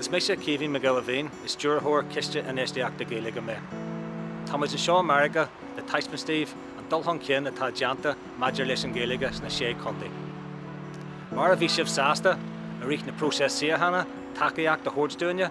Is mise Caoimhín Mac Giolla Mhín, is stiúrthóir Ciste Infheistíochta Gaeilge mé. Táimid anseo i Meiriceá le taispeáint daoibh an dul chun cinn atá déanta maidir leis an Ghaeilge sna sé chontae. Mar a bhí sibh sásta, i rith na próiseas síochána, tacaíocht a thabhairt dúinne,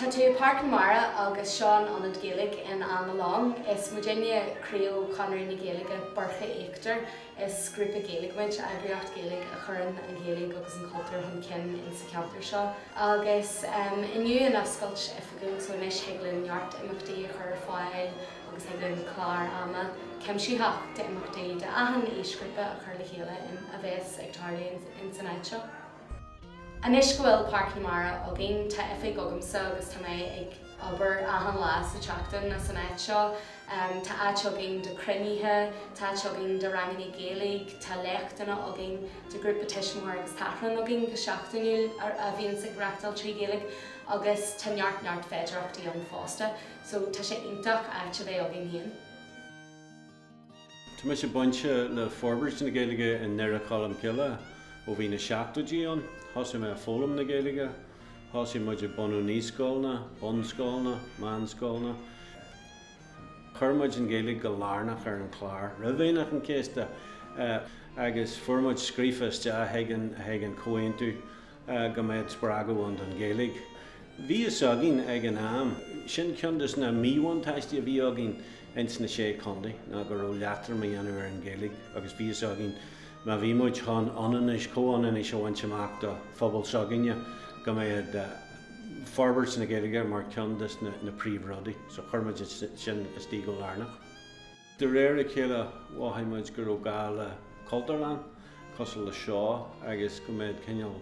Tá tú i Páirc na Mara agus seo an ionad Gaeilge in Annalong. Is muidinne criú Chonradh na Gaeilge Boirche Íochtar Is grúpa Gaeilge muid, eagraíocht Gaeilge a chuireann an Ghaeilge agus an cultúr chun cinn in sa cheantar seo. Agus inniu an oscailt oifigiúil so anois thig linn neart imeachtaí a chur ar fáil agus thig linn clár ama cuimsitheach d'imeachtaí do achan aoisghrúpa a chur le chéile a bheas ag tarlú in san áit seo. Anois go bhfuil Páirc na Mara againn, tá oifig agamsa agus tá mé ag obair achan lá sa tseachtain as an áit seo. Tá áit againn do cruinnithe, tá áit againn do ranganna Gaeilge, tá léachtanna againn, tá grúpa tuistí agus tachrán againn go seachtainiúil a bhíonns ag reachtáil trí Ghaeilge agus tá neart neart féidearthachtaí ann fosta so tá sé iontach áit a bheith againn féin. Tá mise bainte le forbairt na Gaeilge i nDoire Cholm Cille ó bhí na seachtóidí ann. Thosaigh mé a foghlaim na Gaeilge. Thosaigh muid ag bunú naíscoileanna, bunscoileanna, meánscoileanna. Chuir muid an Ghaeilge go lárnach ar an chlár roimh Aoine an Chéasta agus fuair muid scríofa isteach chuig an Chomhaontú. go mbeadh spreagadh ann don Ghaeilge. Bhí fhios againn ag an am, sin ceann de na míbhuntáistí a bhí againn ins na Sé Chontae ná go raibh leatrom a dhéanamh ar an Ghaeilge agus bhí fhios againn má bhí muid chun ionannais, comhionannais a bhaint amach do phobal s'againne go mbeadh forbairt na Gaeilge mar ceann de na príomhrudaí so chuir muid sin istigh go lárnach. De réir a chéile mhothaigh muid go raibh gá le Cultúrlann cosúil le seo agus go mbeadh cineál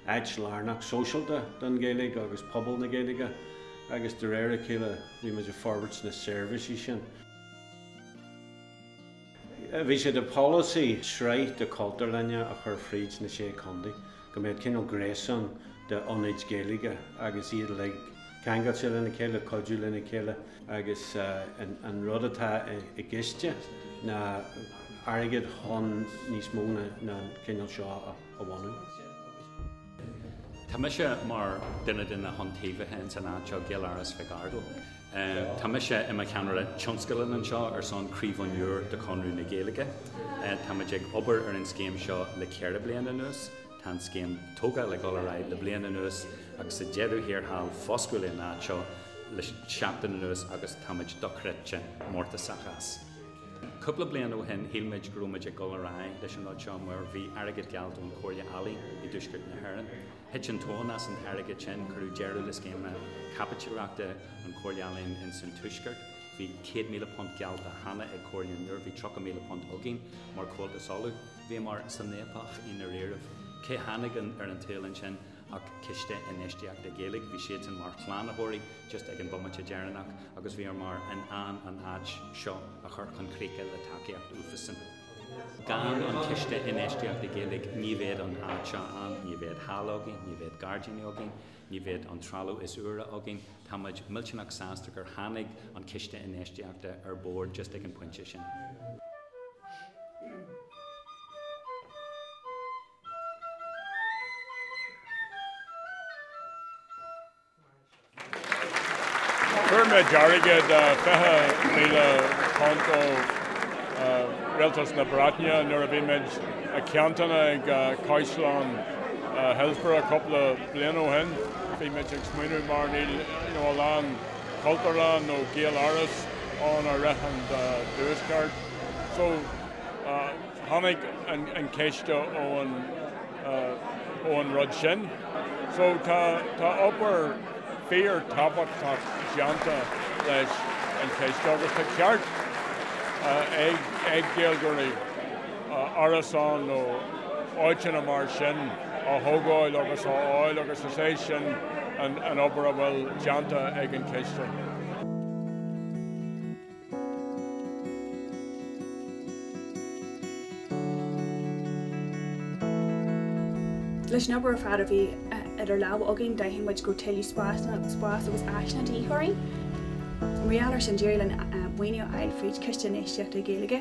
áit lárnach sóisialta don Ghaeilge agus pobal na Gaeilge agus de réir a chéile bhí muid ag forbairt na seirbhísí sin. Bhí sé de pholasaí sraith de Chultúrlainne a chur fríd na Sé Chontae go mbeadh cineál gréasán de ionaid Ghaeilge agus iad uilig, ceangailte lena chéile, cuidiú lena chéile agus an rud atá i gciste ná airgead chun níos mó den chineál seo a bhunú. Tá mise mar duine de na hiontaobhaithe ins an áit seo, Gaeláras Mhic Ardghail. Tá mise i mo cheannaire tionscadail anseo ar son Craobh an Iúir de Chonradh na Gaeilge. Táimid ag obair ar an scéim seo le ceithre bliana anuas. Tá an scéim tógála ag dul ar aghaidh le bliain anuas agus sa deireadh thiar thall foscladh an áit seo le seachtain anuas agus táimid dochreidte mórtasach as. Cúpla bliain ó shin shíl muid go raibh muid ag dul ar aghaidh leis an rud seo mar bhí airgead geallta ón Chomhairle Ealaíon i dTuaisceart na hÉireann. Thit an tóin as an airgead sin, cuireadh deireadh le scéimeanna caipitlíochta an Chomhairle Ealaíon ins an tuaisceart, bhí £100,000 geallta cheana ag Comhairle an Iúir, bhí £30,000 againn mar Chomhaltas Uladh. Bhíomar san fhaopach i ndairíribh. Cé tháinig ar an tsaol ansin ach Ciste Infheistíochta Gaeilge. Bhí siadsan mar shlánaitheoirí just ag an bhomaite deireanach agus bhíomar in ann an áit seo a chur chun críche le tacaíocht uathusan. Gan an Ciste Infheistíochta Gaeilge ní bheadh an áit seo ann, ní bheadh halla againn, ní bheadh gairdíní againn, Ní bheadh an trealamh is úire againn. Tá muid millteanach sásta gur tháinig an Ciste Infheistíochta ar bord just ag an bpointe sin. Chuir mé dearga de £20,000 ó Rialtas na Breataine nuair a bhí muid ag cainteanna ag Caisleán Hillsborough cúpla bliana ó shin bhí muid ag smaoineamh mar níl you know a lán Cultúrlann nó Gaeláras ann i rith an tuaisceart so tháinig an Ciste ón ó an rud sin so tá tá obair fíor tábhachtach déanta leis an Chiste agus tá ceart ag ag Gaeilgeoirí. árasán nó áiteanna mar sin a thógáil agus a fháil agus is é sin an obair a bhfuil déanta ag an Chiste. Leis an obair ar fad a bhí idir lámha againn d'aithin muid go raibh tuilleadh spáis agus áiseanna de dhíth orainn. Mar gheall air sin d'éirigh linn maoiniú a fháil fríd Chiste Infheistíochta Gaeilge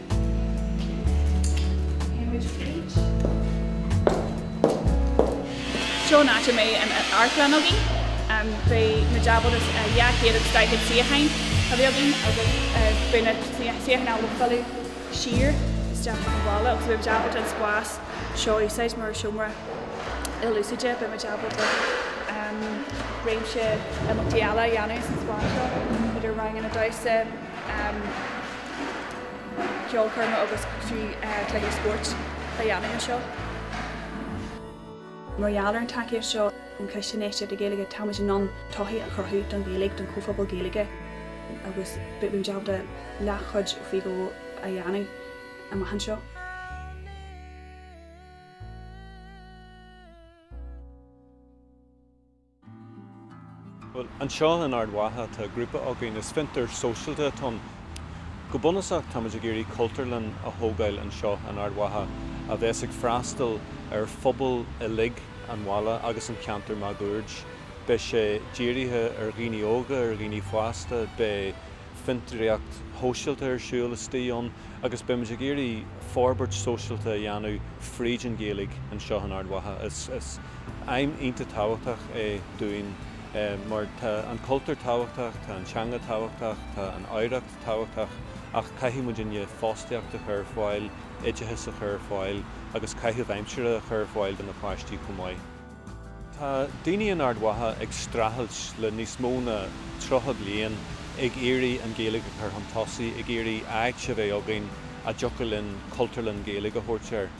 Seo an áit a mbeidh an amharclann againn. Beidh na deabhóides, 240 suíocháin a bheidh againn agus beidh na suíocháin uilig ag filleadh siar isteach chuig an bhalla agus beidh muid ábalta an spás seo a úsáid mar seomra ilúsáide. Beidh muid ábalta réimse imeachtaí eile a dhéanamh sa spás seo idir ranganna damhsa, ceolchoirme agus trí chluichí spóirt a dhéanamh anseo. Mar gheall ar an tacaíocht seo ón Chiste Infheistíochta Gaeilge táimid in ann todhchaí a chruthú don Ghaeilge, don chomhphobal Gaeilge agus beimid ábalta leathchuid faoi dhó a dhéanamh amach anseo. Bhuel, anseo in Ard Mhacha tá grúpa againn, is fiontar sóisialta atá ann. Go bunúsach táimid ag iarraidh cultúrlann a thógáil anseo in Ard Mhacha a bheas ag freastal ar phobal uilig an bhaile agus an cheantair máguaird. Beidh sé dírithe ar dhaoine óga, ar dhaoine fásta, beidh. fiontraíocht shóisialta ar siúl istigh ann agus beimid ag iarraidh forbairt sóisialta a dhéanamh fríd an Ghaeilge anseo in Ard Mhacha. Is aidhm iontach tábhachtach é dúinn mar tá an cultúr tábhachtach, tá an teanga tábhachtach, tá an oidhreacht tábhachtach ach caithfidh muid an fostaíocht a chur ar fáil, oideachas a chur ar fáil agus caitheamh aimsire a chur ar fáil do na páistí chomh maith. Tá daoine in Ard Mhacha ag streachailt le níos mó ná 30 bliain ag iarraidh an Ghaeilge a chur chun tosaigh, ag iarraidh áit a bheith againn a dtiocfadh linn Cultúrlann Gaeilge a thabhairt air.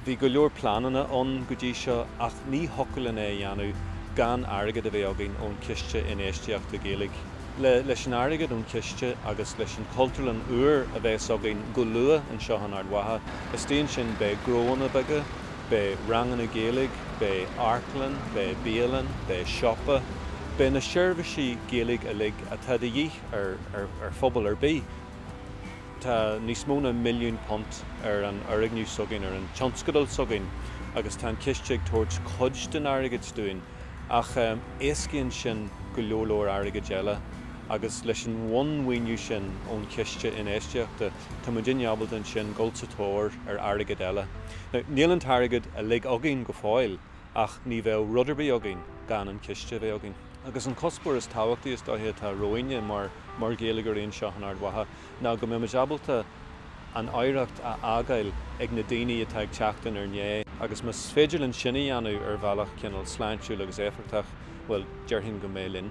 Bhí go leor pleananna ann go dtí seo ach ní thiocfadh linn é a dhéanamh gan airgead a bheith againn ón Chiste Infheistíochta Gaeilge. Leis an airgead ón Chiste agus leis an Chultúrlann úr a bheas againn go luath anseo in Ard Mhacha, istigh ansin beidh gnóanna beaga, Beidh ranganna Gaeilge, beidh amharclann, beidh bialann, beidh siopa, beidh na seirbhísí Gaeilge uilig atá de dhíth ar phobal ar bith. Tá níos mó ná milliún punt ar an fhoirgneamh s'againn, ar an tionscadal s'againn agus tá an ciste ag tabhairt cuid den airgead dúinn ach éascaíonn sin go leor leor airgid eile agus leis an bhunmhaoiniú sin ón Chiste Infheistíochta Tá muid ábalta ansin dhul sa tóir ar airgead eile. Now, níl an t-airgead uilig againn go fóill ach ní bheadh rud ar bith againn gan an ciste a bheith againn. Agus an cuspóir is tábhachtaí is dóiche atá romhainne mar, mar Ghaeilgeoirí anseo in Ard Mhacha ná go mbeimid ábalta an oidhreacht a fhágáil ag na daoine atá ag teacht in ár ndiaidh agus má éiríonn linn sin a dhéanamh ar bhealach cineál sláintiúil agus éifeachtach, bhuel, déarfainn go mbeidh linn.